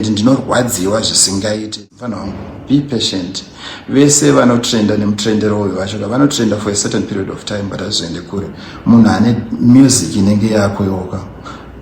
and ndinorwadziwa zvisingaite mfana wangu be patient vese vanotrenda nemutrendero uyu vacho vanotrenda for a certain period of time but hazvizoende kure munhu ane music inenge yako yoka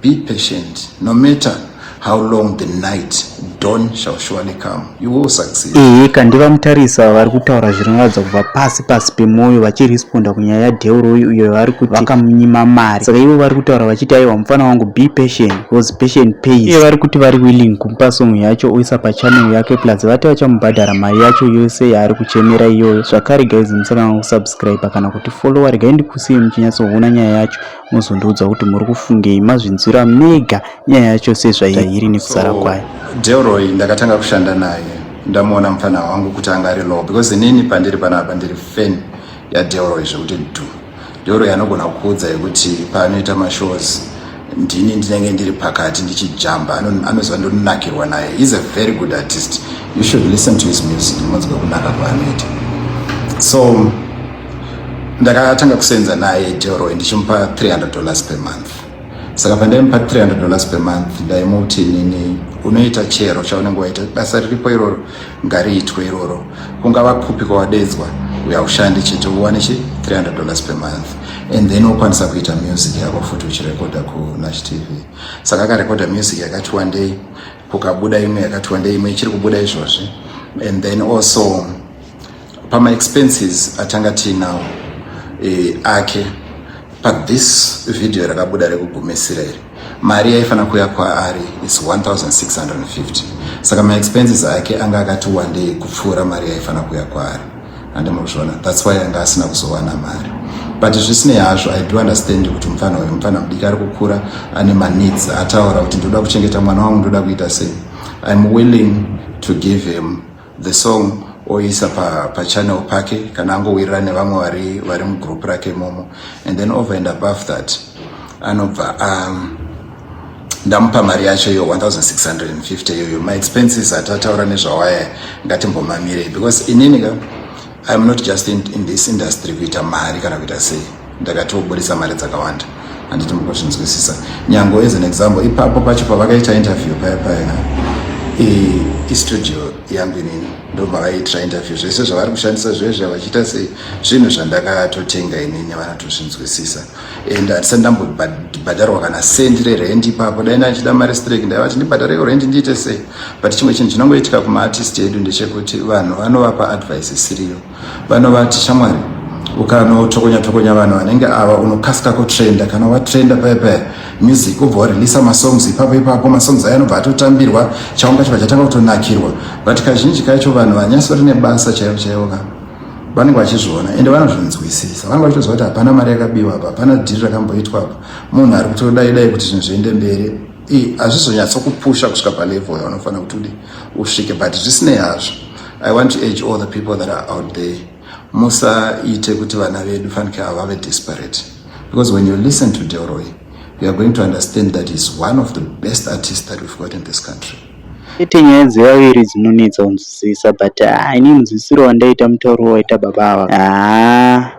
be patient no matter how long the night dawn shall surely come you will succeed ehe kandiva mutarisa vari kutaura zvinoratidza kubva pasi pasi pemwoyo vachiresponda kunyaya yadeuro uyo vari kuti vakamunyima mari saka ivo vari kutaura vachiti aiwa mufana wangu be patient because patient pays iye vari kuti vari willing kumupa song yacho oisa pachannel yake plus vati vachamubhadhara mari yacho yose yaari kuchemera iyoyo zvakare guys musakanga kusubscribe kana kuti followa regai ndikusiye muchinyatsoona nyaya yacho mozondiudza kuti muri kufungei mazvinzwira mega nyaya yacho sezvairi nekusara kwayo delroy ndakatanga kushanda naye ndamuona mupfanha wangu kuti anga ari low because inini pandiri panapa ndiri fan yadelroy zvekuti du Doro yanogona kukuudza yekuti paanoita mashows ndini ndinenge ndiri pakati ndichijamba anoziva ndonakirwa naye is a very good artist you should listen to his music munzwa kunaka kwaanoita so ndakatanga kusenza naye deroy ndichimupa 300 dollars per month saka pandaimupa 300 dollars per month ndaimuti nini unoita chero chaunenge waita basa riripo iroro ngariitwe iroro kungava kupi kwawadedzwa uya ushande chete uwane chi 300 dollars per month and then wokwanisa kuita music yako futi uchirekodha kunash tv saka akarekodha music yakati wandei kukabuda imwe yakati wandei imwe ichiri kubuda izvozvi and then also pama expenses atanga tiinawo e, ake pathis video rakabuda rekugumisira iri mari yaifanira kuya kwaari is 1650 saka maexpenses ake anga akati wandei kupfuura mari yaifanira kuya kwaari hande muzviona thats why anga asina kuzowana mari but zvisinei hazvo i do understand kuti mupfana uyu mupfana mudiki ari kukura ane maneeds ataura kuti ndoda kuchengeta mwana wangu ndoda kuita sei im willing to give him the song oisa pa, pa channel pake kana angowirira nevamwe vari vari mugroup rake momo and then over and above that anobva um, ndamupa mari yacho iyo 1650 iyoyo maexpenses atataura nezvawaya ngatimbomamirei because inini ka iam not just in, in this industry kuita mari kana kuita sei ndakatoburitsa mari dzakawanda handiti mukuzvinzwisisa nyango as an example ipapo pacho pavakaita interview paya paya istudio yangu inini ndomavaiitira interview zvese zvavari kushandisa zvezve vachiita sei zvinhu zvandakatotenga inini vanatozvinzwisisa and hatisa ndambobhadharwa kana sendi rerendi ipapo dai ndachida mari strek ndaivati ndibhadhare yorendi ndiite sei but chimwe chinhu chinongoitika kumaartist edu ndechekuti vanhu vanovapa advice isiriyo Vano vati shamwari ukano tokonya tokonya vanhu vanenge ava unokasika kutrenda kana watrenda paya paya music ubva wareleasa masongs ipapo ipapo masongs ayo anobva atotambirwa chaunga chibva chatanga kutonakirwa but kazhinji kacho vanhu vanyasori nebasa chaivo chaivo ka vanenge vachizviona ende vanozvinzwisisa vanenge vachitoziva kuti hapana mari yakabiwa apa hapana dhiri rakamboitwa apa munhu ari kutodaidai kuti zvinhu zviende mberi hazvizonyatsokupusha kusvika palevel yavanofanira kuti udii usvike but zvisinei hazvo i want to age all the people that are out there musaite kuti vana vedu fanike ava vave desperate because when you listen to delroy you are going to understand that he's one of the best artists that we've got in this country ite nyaya dzevaviri dzinonetsa kunzwisisa but ah, ini mudzidzisiro wandaita mutauro waita baba ava ah.